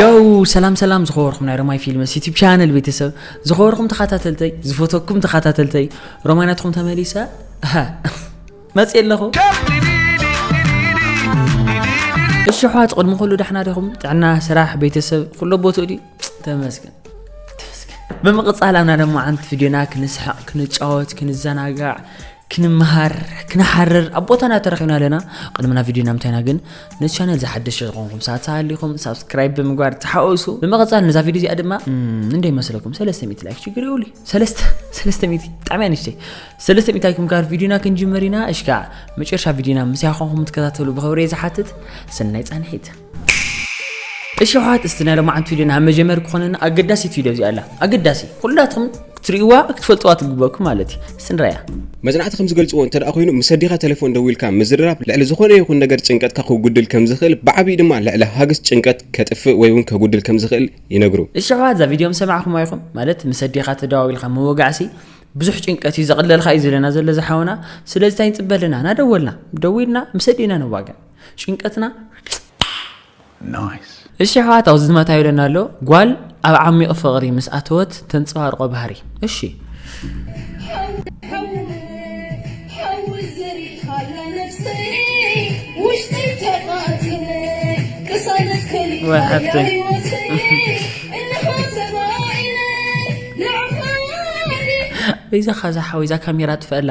ዮው ሰላም ሰላም ዝኸበርኩም ናይ ሮማይ ፊልምስ ዩቲብ ቻነል ቤተሰብ ዝኸበርኩም ተኸታተልተይ ዝፈተኩም ተኸታተልተይ ሮማይ ናትኩም ተመሊሰ መፅእ ኣለኹ እሺ ኣሕዋት ቅድሚ ኩሉ ዳሕና ዲኹም ጥዕና ስራሕ ቤተሰብ ኩሎ ቦትኡ ድዩ ተመስገን ብምቕፃል ኣብና ደሞ ዓንቲ ቪድዮና ክንስሕቕ ክንጫወት ክንዘናጋዕ ክንመሃር ክንሓርር ኣብ ቦታና ተረኺብና ኣለና ቅድምና ቪድዮ ናብ ምታይና ግን ነዚ ቻነል ዝሓደሽ ዝኾንኩም ሰዓት ሃሊኹም ሳብስክራይብ ብምግባር ተሓወሱ ብምቕፃል ነዛ ቪድዮ እዚኣ ድማ እንደይ መስለኩም ሰለስተ ሚእቲ ላይክ ችግር ይብሉ ሰለስተ ሚእቲ ብጣዕሚ እያ ንሽተይ ሰለስተ ሚእቲ ላይክ ምግባር ቪድዮና ክንጅምር ኢና እሽካ መጨረሻ ቪድዮና ምስ ያኾንኩም ትከታተሉ ብኽብሪ ዝሓትት ሰናይ ፃንሒት እሺ ኣሕዋት እስቲ ናይ ሎማዓንቲ ቪድዮ ናብ መጀመሪ ክኾነና ኣገዳሲት ቪድዮ እዚኣ ኣላ ኣገዳሲ ኩላትኹም ክትርእይዋ ክትፈልጥዋ ትግበኩም ማለት እዩ እስቲ ንራያ መጽናዕቲ ከም ዝገልጽዎ እንተ ኮይኑ ምስ ኣዴኻ ተሌፎን ደዊልካ ምዝርራብ ልዕሊ ዝኾነ ይኹን ነገር ጭንቀትካ ከጉድል ከም ዝኽእል ብዓቢኡ ድማ ልዕሊ ሃግስ ጭንቀት ከጥፍእ ወይ እውን ከጉድል ከም ዝኽእል ይነግሩ። እሺ ኣሕዋት እዛ ቪድዮ ምስ ሰማዕኩማ ኢኹም ማለት ምስ ኣዴኻ ተደዋዊልካ ምውጋዕሲ ብዙሕ ጭንቀት እዩ ዘቕለልካ እዩ ዝብለና ዘሎ እዚ ሓውና ስለዚ እንታይ ንጽበ ኣለና ናደወልና ደዊልና ምስ ኣዴና ንዋጋእ ጭንቀትና እሺ ኣሕዋት ኣብዚ ዝመታ ይብለና ኣሎ ጓል ኣብ ዓሚቕ ፍቕሪ ምስ ኣተወት ተንጸባርቆ ባህሪ እሺ በይዛኻ ዛሓወይ ዛ ካሜራ ጥፈእላ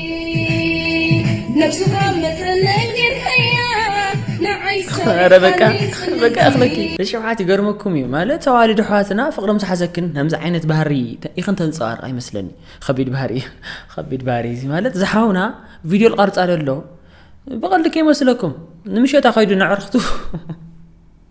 ኣረ በቃ በቃ ኣኽለኪ ንሸውዓት ይገርመኩም እዩ ማለት ተዋልድ ኣሕዋትና ፍቕሮም ዝሓዘክን ከምዚ ዓይነት ባህሪ ኢኽን ተንፀባርቕ ኣይመስለኒ ከቢድ ባህሪ እዩ ከቢድ ባህሪ እዚ ማለት ዝሓውና ቪድዮ ልቐርፃ ደሎ ብቐልዲ ከይመስለኩም ንምሸታ ከይዱ ነዕርኽቱ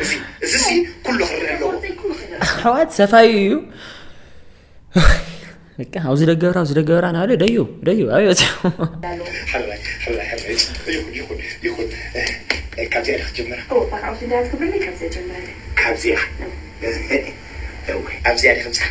እዚ እዚሲ ኩሉ ክርእ ኣለዎ። ኣሕዋት ሰፋዩ እዩ በቃ ኣብዚ ደገብራ ኣብዚ ደገብራ ናበለ ደዩ ደዩ ኣብዮ ሓላይ ሓላይ ሓላይ ይኹን ይኹን ይኹን ካብዚኣ ዲኽ ጀምራ ካብዚኣ ኣብዚኣ ዲኽ ብፃሕ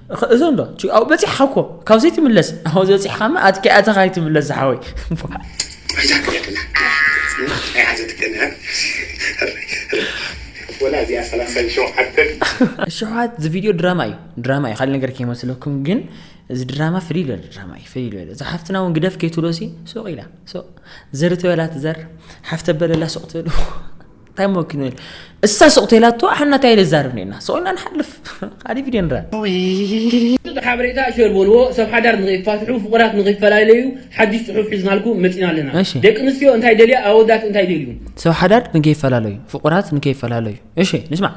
እዞ ኣሎ ኣብኡ በፂሕኻ እኮ ካብ ዘይትምለስ ኣብኡ ዝበፂሕኻማ ኣትኪኣ እተኻ ኣይትምለስ ዝሓወይ ሸውዓት እዚ ቪድዮ ድራማ እዩ ድራማ እዩ ካልእ ነገር ከይመስለኩም ግን እዚ ድራማ ፍልይ ዝበለ ድራማ እዩ ፍልይ ዝበለ እዛ ሓፍትና እውን ግደፍ ከይትብሎ ሲ ሱቕ ኢላ ሱቕ ዘሪ ተበላ ትዘር ሓፍተ በለላ ሱቕ ትብል እንታይ መኪኑ እሳ ሱቕ ተላቶ ኣሓና እንታይ ልዛርብ ኔና ሱቕ ኢና ንሓልፍ ካሊእ ቪድዮ ንረኣ ጽቡቕ ሓበሬታ ሸር በልዎ ሰብ ሓዳር ንኸይፋትሑ ፍቑራት ንኸይፈላለዩ ሓድሽ ጽሑፍ ሒዝናልኩም መጺና ኣለና እሺ። ደቂ ኣንስትዮ እንታይ ይደልያ ኣወዳት እንታይ ይደልዩ ሰብ ሓዳር ንከይፈላለዩ ፍቑራት ንከይፈላለዩ እሺ ንስማዕ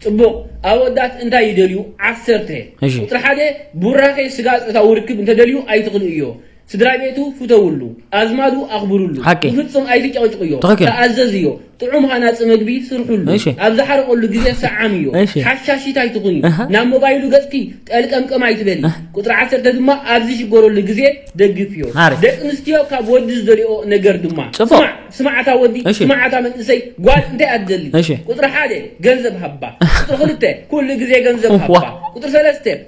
ጽቡቕ ኣወዳት እንታይ ይደልዩ ዓሰርተ እሺ። ቁጽሪ ሓደ ቡራኼ ስጋ ጾታዊ ርክብ እንተደልዩ ኣይትኽልኡዮ ስድራቤቱ ፍተውሉ፣ ኣዝማዱ ኣኽብርሉ፣ ሓቂ። ብፍጹም ኣይትጨቕጭቕዮ፣ ትኽክል። ተኣዘዝዮ፣ ጥዑም ሃናጺ መግቢ ስርሕሉ፣ እሺ። ኣብ ዝሓርቐሉ ግዜ ሰዓምዮ፣ እሺ። ሓሻሺት ኣይትኹኒ፣ ኣሃ። ናብ ሞባይሉ ገጽኪ ጠልቀምቀም ኣይትበሊ፣ ኣህ። ቁጽሪ ዓሰርተ ድማ ኣብ ዝሽገረሉ ግዜ ደግፍዮ። ሓሪፍ። ደቂ ኣንስትዮ ካብ ወዲ ዝደልይኦ ነገር ድማ፣ ጽቡቕ። ስማዕ ስማዕ ኣታ ወዲ፣ እሺ። ስማዕ ኣታ መንእሰይ ጓል እንታይ እያ ትደሊ? እሺ። ቁጽሪ ሓደ ገንዘብ ሃባ፣ ቁጽሪ ክልተ ኩሉ ግዜ ገንዘብ እዋ። ሃባ፣ ቁጽሪ ሰለስተ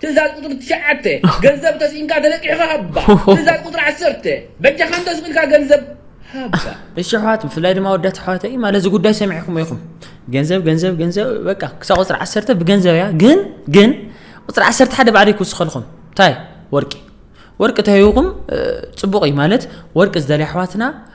ትእዛዝ ቁፅሪ ትሽዓተ ገንዘብ ተስኢንካ ተለቂሕኻ ሃባ ትእዛዝ ቁፅሪ ዓሰርተ በጃኻ እንተስቂልካ ገንዘብ ሃባ እሺ ኣሕዋት ብፍላይ ድማ ወዳት ኣሕዋተይ ማለት እዚ ጉዳይ ሰሚዕኩሞ ኢኹም ገንዘብ ገንዘብ ገንዘብ በቃ ክሳብ ቁፅሪ ዓሰርተ ብገንዘብ እያ ግን ግን ቁፅሪ ዓሰርተ ሓደ ባዕለ ክውስኸልኹም እንታይ ወርቂ ወርቂ ተይኹም ፅቡቕ እዩ ማለት ወርቂ ዝደልያ ኣሕዋትና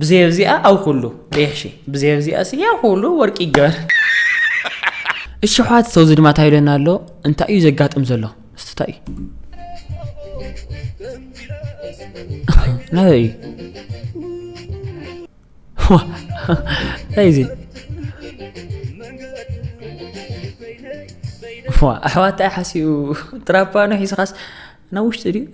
ብዘይ ኣብዚኣ ኣብ ኩሉ ቀይሕ ሺ ብዘይ ኣብዚኣ ሲ ኣብ ኩሉ ወርቂ ይገበር እሺ ኣሕዋት ሰው እዚ ድማ እንታይ ይብለና ኣሎ እንታይ እዩ ዘጋጥም ዘሎ እስቲ እንታይ እዩ ናበይ እዩ ዋ፣ እንታይ እዩ እዚ ዋ ኣሕዋት እንታይ ሓሲቡ ትራፓኖ ሒዝኻስ ናብ ውሽጢ ድዩ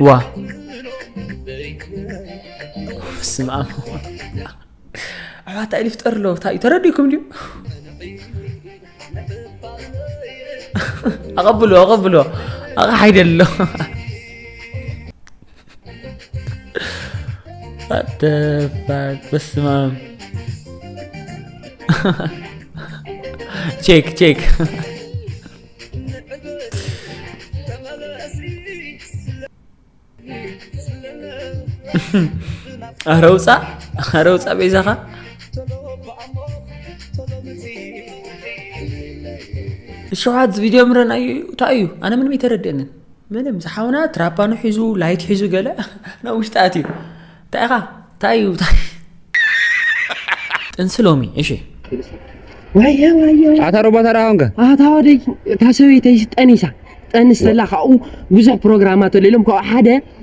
ዋ ስም ኣም ኣሕዋታ ኢሉ ይፍጠር ኣሎ እንታይ እዩ ተረዲእኩም ድዩ ኣቐብሎ ኣቐብሎ ኣቕሓ ይደሎ በስማም ቼክ ቼክ ኣረ ውፃእ ኣረ ውፃእ ቤዛኻ ሸውዓት ቪድዮ ምረን ኣዩ እንታይ እዩ ኣነ ምንም ኣይተረድአንን ምንም ዝሓውና ትራፓኑ ሒዙ ላይት ሒዙ ገለ ናብ ውሽጢ ኣትዩ እንታይ ኢኻ እንታይ እዩ ጥንሲ ሎሚ እሺ ዋየ ዋየ ኣታ ሮባት ኣርኣውንከ ኣታ ወደይ እታ ሰበይተይ ጠኒሳ ጠንስ ዘላ ካብኡ ብዙሕ ፕሮግራማት ኣሎ ኢሎም ካብኡ ሓደ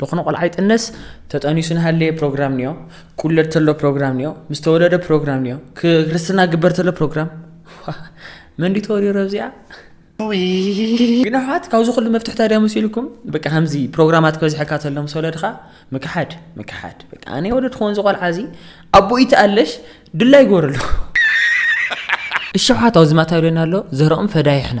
ልኾነ ቆልዓ ይጥነስ ተጠኒሱ ንሃለየ ፕሮግራም ንዮ ቁለድ ተሎ ፕሮግራም ንዮ ምስ ተወለደ ፕሮግራም ንዮ ክርስትና ግበር ተሎ ፕሮግራም መንዲ ተወልዮ ረብዚኣ ግን ኣሕዋት ካብዚ ኩሉ መፍትሕታ ድያ መሲልኩም በቃ ከምዚ ፕሮግራማት ክበዝሐካ ተሎ ምስ ወለድካ ምክሓድ ምክሓድ በቃ ኣነ ወለድ ክኾን ዝቆልዓ እዚ ኣቦ ይትኣለሽ ድላ ይገበረሉ እሸውሓት ኣብዚ ማታ ይብለና ኣሎ ዘረኦም ፈዳይሕና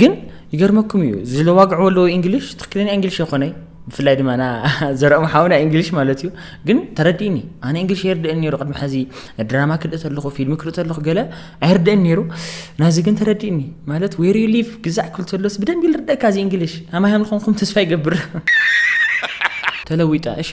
ግን ይገርመኩም እዩ ዝለዋግዕዎ ኣለዎ እንግሊሽ ትክክለኛ እንግሊሽ የኮነይ ብፍላይ ድማ ና ዘረኦም ሓውና እንግሊሽ ማለት እዩ ግን ተረዲእኒ ኣነ እንግሊሽ የርድእን ነይሩ ቅድሚ ሕዚ ድራማ ክርኢ ተለኹ ፊልሚ ክርኢ ተለኹ ገለ ኣይርድእን ነይሩ ናዚ ግን ተረዲእኒ ማለት ዌር ዩ ሊቭ ግዛዕ ክብል ተሎስ ብደንቢ ልርደእካ እዚ እንግሊሽ ኣማይ ንኾንኩም ተስፋ ይገብር ተለዊጠ እሺ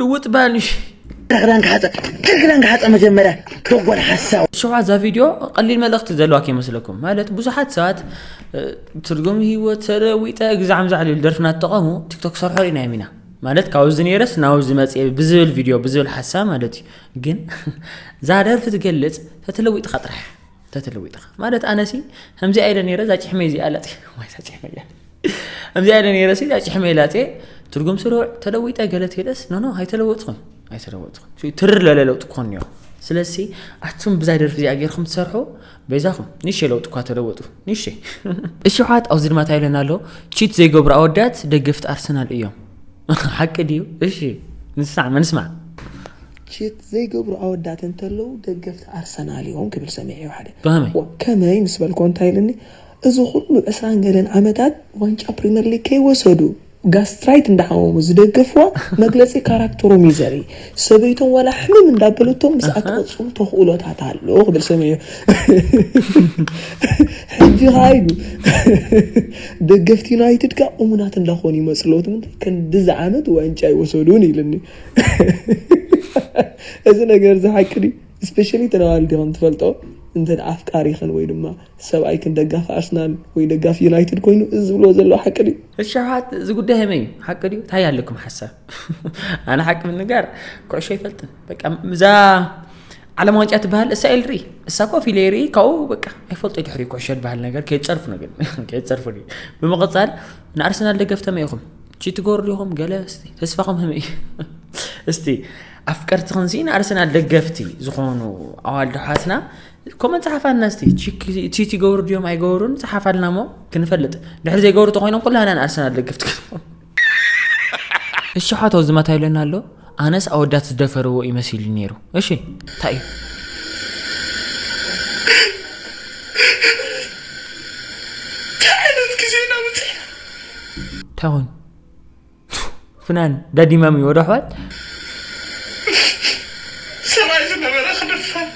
ልውጥ ባልሽ ክዳንካ ሓፀ ክዳንካ ሓፀ መጀመርያ ደጎል ሓሳዊ ሽዑ እዛ ቪድዮ ቀሊል መልእኽቲ ዘለዋ ከይመስለኩም ማለት ብዙሓት ሰባት ትርጉም ህይወት ተለዊጠ ግዛዕም ዛዕል ይብል ደርፍና ትጠቐሙ ቲክቶክ ሰርሖ ኢና ኢና ማለት ካብዚ ነይረስ ናብዚ መፅ ብዝብል ቪድዮ ብዝብል ሓሳብ ማለት እዩ ግን እዛ ደርፊ ትገልፅ ተተለዊጥካ ጥራሕ ተተለዊጥኻ ማለት ኣነሲ ከምዚኣ ኢለ ነይረ እዛ ጭሕመይ እዚኣ ላፅ ወይ እዛ ጭሕመይ እያ ከምዚኣ ኢለ ነይረ እዛ ጭሕመይ ላፄ ትርጉም ስሩዕ ተለዊጠ ገለ ትሄደስ ኖኖ ኣይተለወጥኹም ኣይተለወጥኹም ትር ለለ ለውጢ ክኾን እኒኦ ስለዚ ኣቱም ብዛ ደርፊ እዚኣ ጌርኩም ትሰርሑ በይዛኹም ንሸ ለውጢ እኳ ተለወጡ ንሸ እሺ ሓት ኣብዚ ድማ እንታይ ኢለና ኣሎ ቺት ዘይገብሩ ኣወዳት ደገፍቲ ኣርሰናል እዮም ሓቂ ድዩ እሺ ንስማዕ ንስማዕ ቺት ዘይገብሩ ኣወዳት እንተለዉ ደገፍቲ ኣርሰናል ኢዮም ክብል ሰሚዐዮ ሓደ ብኸመይ? ዋእ ከመይ ምስ በልኩዎ እንታይ ኢሉኒ እዚ ኩሉ ዕስራን ገለን ዓመታት ዋንጫ ፕሪመር ሊግ ከይወሰዱ ጋስትራይት እንዳሓመሙ ዝደገፍዋ መግለጺ ካራክተሮም ኢዩ ዘርኢ ሰበይቶም ዋላ ሕምም እንዳበለቶም ምስኣ ትቕጽሉ ተኽእሎታት ኣሎ ክብል ሰሚዐዮ ሕጂ ከኣ ኢሉ ደገፍቲ ዩናይትድ ከኣ እሙናት እንዳኾኑ ይመጹ ኣለዉ እቲ ምንታይ ክንድዚ ዓመት ዋንጫ ኣይወሰዱን ኢሉኒ እዚ ነገር እዚ ሓቂ ድዩ ስፔሻሊ ተናዋልዲ ከም ትፈልጦ እንተ ኣፍቃሪኽን ወይ ድማ ሰብኣይክን ደጋፊ ኣርሰናል ወይ ደጋፊ ዩናይትድ ኮይኑ እዚ ዝብልዎ ዘለዉ ሓቂ ድዩ እሻሓት እዚ ጉዳይ መይ ሓቂ ድዩ እንታይ ኣለኩም ሓሳብ ኣነ ሓቂ ምንጋር ኩዕሾ ይፈልጥን በቃ እዛ ዓለም ዋንጫ ትበሃል እሳ ኢል ርኢ እሳ ኮ ፊለ ርኢ ካብኡ በቃ ኣይፈልጦ ድሕሪ ኩዕሾ ዝበሃል ነገር ከየፀርፉ ነገር ከየፀርፉ ብመቐፃል ንኣርሰናል ደገፍተመ ኢኹም ቺ ትገብሩ ዲኹም ገለ እስቲ ተስፋኹም ህመይ እስቲ ኣፍቀርትኽን ሲ ንኣርሰናል ደገፍቲ ዝኾኑ ኣዋልዶ ሓትና ኮመን ፀሓፋልና እስቲ ቺ ትገብሩ ድዮም ኣይገብሩን ፀሓፋልና እሞ ክንፈልጥ ድሕሪ ዘይገብሩ ተኮይኖም ኩላና ንኣርሰናል ደገፍቲ እሺ ሓቶ ዝመታ ይለና ኣሎ ኣነስ ኣወዳት ዝደፈርዎ እዩ መሲሉኒ ነይሩ እሺ ታይ እዩ። ታይ ዓይነት ግዜ ኢና በጺሕና። ታይ ኮይኑ ፍናን ዳዲ ማሚ ወደ ኣሕዋት። ሰብኣይ ዝነበረ ክድፈር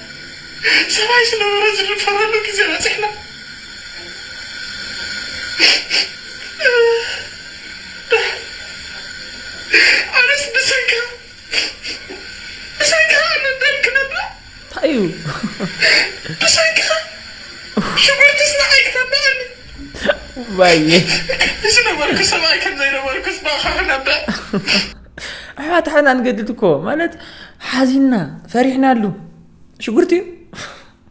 ሰብኣይ ዝነበረ ዝድፈረሉ ግዜ በጺሕና። ኣሕዋት ሓና ንገድድ እኮ ማለት ሓዚና ፈሪሕናሉ ሽጉርቲ እዩ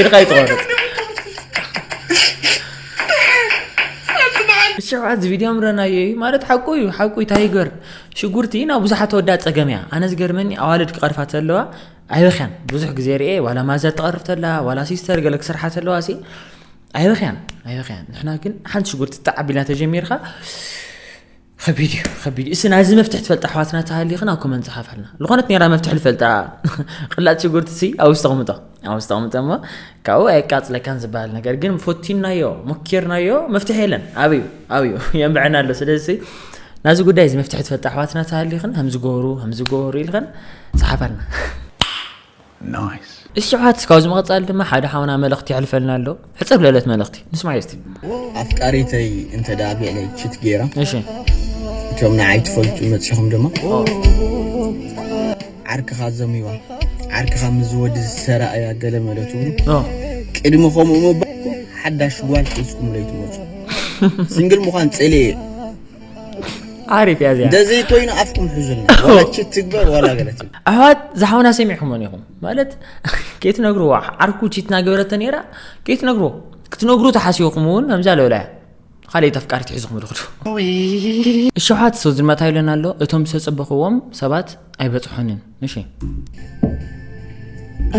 ኢድካ ይትቆረፅ ንስዑ ኣዚ ቪድዮ ምረናዮ እዩ ማለት ሓቁ እዩ ሓቁ እዩ ታይገር ሽጉርቲ ናብ ብዙሓት ወዳ ፀገም እያ ኣነ ዝገርመኒ ኣዋልድ ክቐርፋ ተለዋ ኣይበኽያን ብዙሕ ግዜ ርኤ ዋላ ማዛ ትቐርፍ ተላ ዋላ ሲስተር ገለ ክስርሓ ተለዋ ሲ ኣይበኽያን ኣይበኽያን ንሕና ግን ሓንቲ ሽጉርቲ ጣዕ ቢልና ተጀሚርካ ከቢድ እዩ ከቢድ እዩ እስና እዚ መፍትሒ ትፈልጣ ኣሕዋትና ተሃሊኽን ኣብ ኮመንት ዝሓፋልና ዝኾነት ኔራ መፍትሒ ልፈልጣ ቅላጥ ሽጉርቲ ሲ ኣብ ውሽጢ ኣቕምጦ ኣብ ውሽጢ ኣቕምጦ እሞ ካብኡ ኣየቃፅለካን ዝበሃል ነገር ግን ፎቲናዮ ሞኪርናዮ መፍትሒ የለን ኣብዩ ኣብዩ የንብዐና ኣሎ ስለዚ ናዚ ጉዳይ እዚ መፍትሒ ትፈልጣ ኣሕዋትና ተሃሊኽን ከምዝገበሩ ከምዝገበሩ ኢልኸን ፀሓፋልና Nice። እሺ ኣሕዋት ካብዚ ምቅጻል ድማ ሓደ ሓውና መልእክቲ የሕልፈልና ኣሎ ሕጽር ለለት መልእክቲ ንስማዮ እስቲ። ኣፍቃሪተይ እንተ ደኣ ብዕለይ ቺት ጌራ እሺ። እቶም ንዓይ ትፈልጡ መጺኹም ድማ ዓርክኻ ዘሚዋ ዓርክኻ ምስዚ ወዲ ዝተራእያ ገለመለ ትብሉ ኦ ቅድሚ ከምኡ ምባልኩም ሓዳሽ ጓል ሒዝኩምለይ ትመጹ ስንግል ምዃን ጽልኢ እየ። ዓሪፍ እያ እዚኣ እንደዘይ ኮይኑ ኣፍኩም ሕዙልና ወላቺ ትግበር ዋላ ገለት ኣሕዋት ዝሓውና ሰሚዕኩሞን ኢኹም ማለት ከይትነግርዎ ዓርኩ ቺት ናገበረተ ነይራ ከይትነግርዎ ክትነግሩ ተሓሲብኩም እውን ከምዛ ለውላ እያ ካልእት ኣፍቃሪት ሒዝኹም ድኽዱ እሸሓት ሰው ዝልመታ ኢለን ኣሎ እቶም ዝተፀበኽዎም ሰባት ኣይበፅሖንን እሺ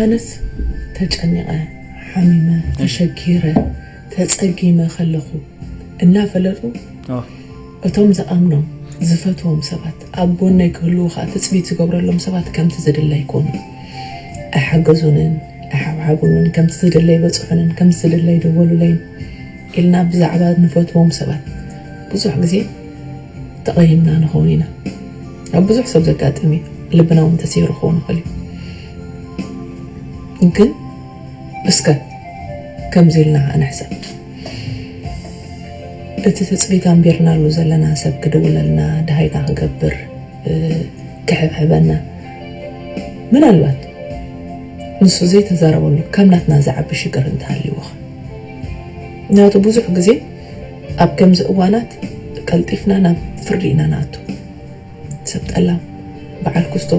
ኣነስ ተጨኒቐ ሓሚመ ተሸጊረ ተፀጊመ ከለኹ እናፈለጡ እቶም ዝኣምኖም ዝፈትዎም ሰባት ኣብ ጎነይ ክህልዉ ከዓ ትፅቢት ዝገብረሎም ሰባት ከምቲ ዝድለ ኣይኮኑን ኣይሓገዙንን ኣይሓብሓቡንን ከምቲ ዝድለ ኣይበፅሑንን ከምቲ ዝድለ ኣይደወሉለይን ኢልና ብዛዕባ ንፈትዎም ሰባት ብዙሕ ግዜ ተቐይምና ንኸውን ኢና ኣብ ብዙሕ ሰብ ዘጋጥም እዩ ልብና እውን ተሰይሩ ክኸውን ይኽእል እዩ ግን እስከ ከምዚ ኢልና ከዓ ንሕሰብ እቲ ትፅቢት ኣንቢርናሉ ዘለና ሰብ ክድውለልና ድሃይታ ክገብር ክሕብሕበና ምናልባት ንሱ ዘይተዛረበሉ ካብ ናትና ዝዓቢ ሽግር እንተሃልዩዎ ምክንያቱ ብዙሕ ግዜ ኣብ ከምዚ እዋናት ቀልጢፍና ናብ ፍርዲ ኢና ንኣቱ። ሰብ ጠላም፣ በዓል ኩስቶ፣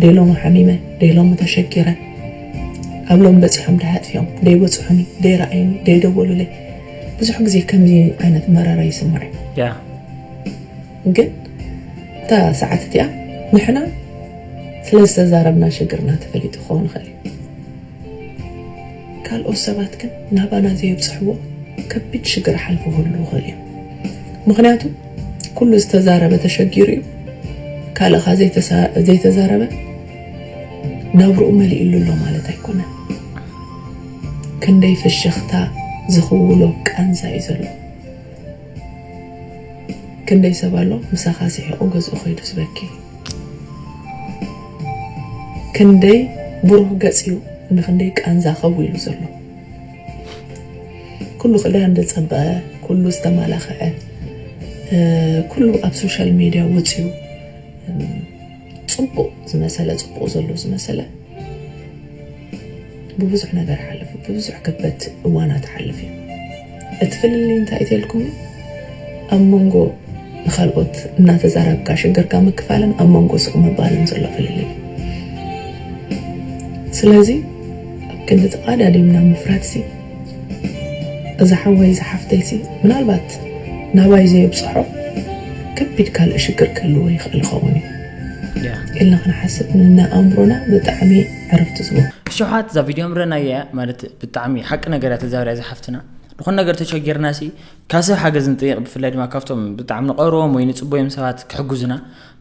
ደይ ሎሚ ሓሚመ፣ ደይ ሎሚ ተሸጊረ፣ ኣብ ሎሚ በጺሖም ደይ ኣጥፊኦም፣ ደይ በጽሑኒ፣ ደይ ረኣዩኒ፣ ደይ ደወሉለይ፣ ብዙሕ ግዜ ከምዚ ዓይነት መረረ ይስማዕ እዩ። ግን እታ ሰዓት እቲኣ ንሕና ስለ ዝተዛረብና ሽግርና ተፈሊጡ ክኸውን ይኽእል እዩ። ካልኦት ሰባት ግን ናባና ዘየብጽሕዎ ከቢድ ሽግር ኣሓልፉ ክህልዉ ይኽእሉ እዮም። ምኽንያቱ ኩሉ ዝተዛረበ ተሸጊሩ እዩ፣ ካልእ ከኣ ዘይተዛረበ ናብርኡ መሊእሉ ኣሎ ማለት ኣይኮነን። ክንደይ ፍሽኽታ ዝኽውሎ ቃንዛ እዩ ዘሎ። ክንደይ ሰብ ኣሎ ምሳኻ ስሒቑ ገዝኡ ከይዱ ዝበኪ። ክንደይ ብሩህ ገጽ ዩ ንክንደይ ቃንዛ ከው ኢሉ ዘሎ ኩሉ ክዳን ዝጸበቀ ኩሉ ዝተማላከዐ ኩሉ ኣብ ሶሻል ሜድያ ወጽዩ ጽቡቅ ዝመሰለ ጽቡቅ ዘሎ ዝመሰለ ብብዙሕ ነገር ሓልፉ ብብዙሕ ከበድቲ እዋናት ሓልፍ እዩ እቲ ፍልልይ እንታይ እዩ ተልኩም ኣብ መንጎ ንካልኦት እናተዛራብካ ሽግርካ ምክፋልን ኣብ መንጎ ስቕ ምባልን ዘሎ ፍልልይ ስለዚ ኣብ ክንዲ ተቓዳዲምና ምፍራድ ሲ እዛ ሓወይ እዛ ሓፍተይ ሲ ምናልባት ናባይ ዘየብፅሖ ከቢድ ካልእ ሽግር ክህልዎ ይኽእል ይኸውን እዩ ኢልና ክንሓስብ ንኣእምሮና ብጣዕሚ ዕረፍቲ ስለ ሸውሓት እዛ ቪድዮ ምረናያ እያ ማለት ብጣዕሚ ሓቂ ነገር እያ ተዛርያ እዛ ሓፍትና ንኹን ነገር ተሸጊርና ሲ ካብ ሰብ ሓገዝ ንጥይቕ ብፍላይ ድማ ካብቶም ብጣዕሚ ንቐርቦም ወይ ንፅቦዮም ሰባት ክሕግዙና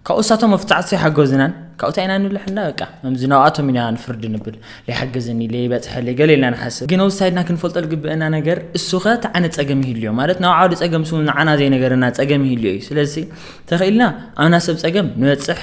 ካብኡ እሳቶም መፍፃዕቲ ሓገዙናን ካብኡ እንታይ ኢና ንብል ሕና በቃ ከምዚ ናብኣቶም ኢና ንፍርድ ንብል ለይሓገዘኒ ለይበፅሐለይ ገለ ኢልና ንሓስብ ግን ኣብዚ ሳይድና ክንፈልጦ ዝግበአና ነገር እሱኸ እቲ ዓይነት ፀገም ይህልዮ ማለት ናብ ዓውዲ ፀገም ስውን ንዓና ዘይነገረና ፀገም ይህልዮ እዩ ስለዚ ተኽኢልና ኣብና ሰብ ፀገም ንበፅሕ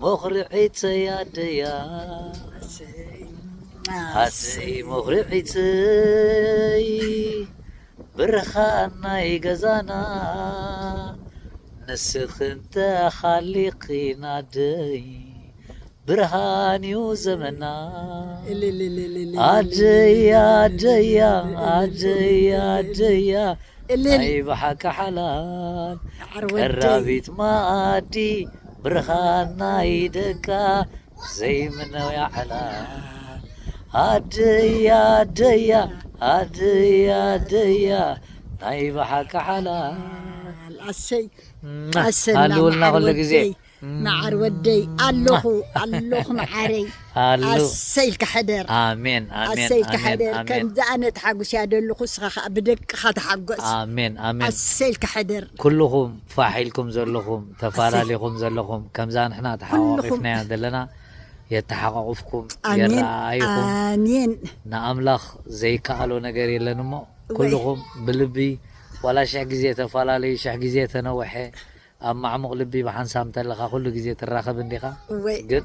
ሞኽርዒተይ ኣደይ ኣሰይ ሞኽርዒተይ ብርሃን ናይ ገዛና ንስኺ እንተሃሊኺና ኣደይ ብርሃን እዩ ዘመና ኣደይ ኣደይ ኣደይ ኣደይ ናይ ብሓቂ ሓላል ቀራቢት መኣዲ ብርሃን ናይ ደቃ ዘይምነው ያዕላ ኣደያ ኣደያ ኣደያ ኣደያ ናይ ብሓቂ ሓላል ኣሰይ ኣሰና ኣሉውልና መዓር ኩሉ ግዜ ወደይ መዓር ወደይ ኣለኹ ኣለኹ መዓረይ ኣሉ ኣሰይ ኢልካ ሕደር ኣሜን ኣሜን ኣሰይ ኢልካ ኣሜን ሕደር ኣሜን ከምዚ ኣነ ተሓጉስያ ዘለኹ እስኻ ከዓ ብደቅኻ ተሓጎስ ኣሜን ኣሜን ኣሰይ ኢልካ ሕደር ኩልኹም ፋሕ ኢልኩም ዘለኹም ተፋላሊኹም ዘለኹም ከምዛ ንሕና ተሓቋቒፍናያ ዘለና የተሓቋቑፍኩም የረኣኣይኹም ንኣምላኽ ዘይከኣሎ ነገር የለን እሞ ኩልኹም ብልቢ ዋላ ሽሕ ግዜ ተፋላለዩ ሽሕ ግዜ ተነውሐ ኣብ ማዕሙቕ ልቢ ብሓንሳብ እንተለኻ ኩሉ ግዜ ትራኸብ እንዲኻ ግን